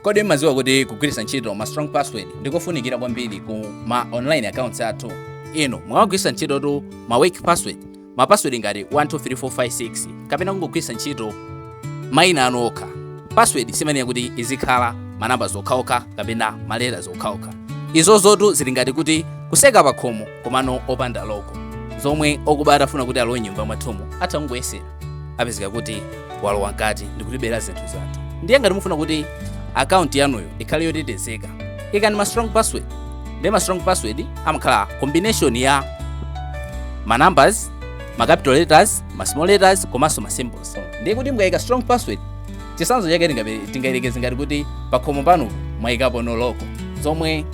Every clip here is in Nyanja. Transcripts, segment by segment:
kodi mmadziwa kuti kugwiritsa ntchito ma strong password ndikofunikira kwambiri ku ma online accounts athu inu mumagwiritsa ntchitotu ma weak password ma password ngati 123456 kapena kungogwiritsa ntchito maina anu okha password simayenera kuti izikhala manambaz okhaokha kapena maletaz okhaokha izozotu zili ngati kuti kutseka pakhomo komano opanda loko zomwe okuba atafuna kuti alowe nyumba mwathumu atha kungoyesera apezeka kuti walowa mkati ndi kutibera zinthu zathu ndiye ngati mufuna kuti akaunti yanuyo ikhale yotetezeka ikani ma strong password ndiye ma strong password amakhala combination ya ma numbers ma capital letters ma small letters komanso ma symbols ndiye kuti mukayika strong password chisanzo chake tingabe- tingayerekeze ngati kuti pakhomo panu mwayikapono loko zomwe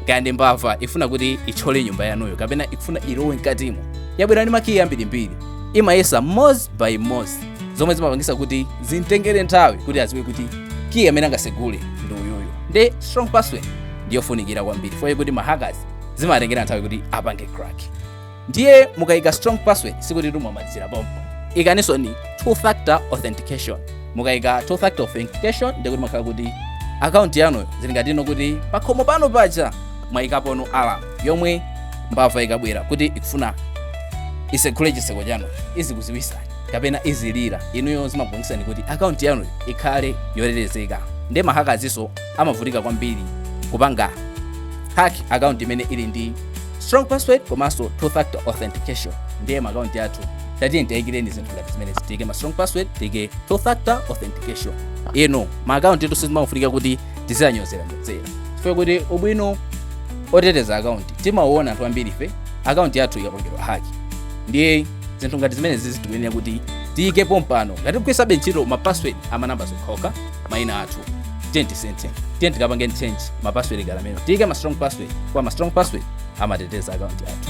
kaya ndi mbava ifuna kuti itchole nyumba yanuyo kapena ikufuna ilowe mkatimo yabwera ndi makiyi ambirimbiri imayesa mozi by mozi zomwe zimapangisa kuti zimtengere nthawi kuti aziwe kuti kiyi amene angasegule ndi uyuyu nde strong password ndiyofunikira kwambiri fukwa kuti mahackers zimatengera nthawi kuti apange crack ndiye mukayika strong password sikuti timamalizira pompo ikaninsoni two factor authentication mukayika two factor authentication ndiye kuti mumakhala kuti akaunti yanu zili ngatino kuti pakhomo pano paja mwayikapono alarm yomwe mbava ikabwera kuti ikufuna isekhule chiseko chanu izikuziwisani kapena izilira inuyo zimapangisa kuti akaunti yanu ikhale yotetezeka nde mahakazinso amavutika kwambiri kupanga hack akaunti imene ili ndi strong password komanso two factor authentication ndiye makaunti athu tatiyeni tiwayikireni zinthu ngati zimenezi tiyike ma strong password tiyike two factor authentication inu makauntiwatu sizimafunika kuti tiziyanyozera nyozera chifukwa kuti ubwino oteteza akaunti timauona anthu ambiri ife akaunti yathu ikapangidwa hack ndiye zinthu ngati zimenezizi tikuyenera kuti tiyike pompano ngati tikugwirisabe ntchito ma password amanambaz okhawokha maina athu tiyeni tisinthe tiyeni tikapange change ma password ngati amenewo tiyike ma strong password fukwa ma strong password amateteza akaunti yathu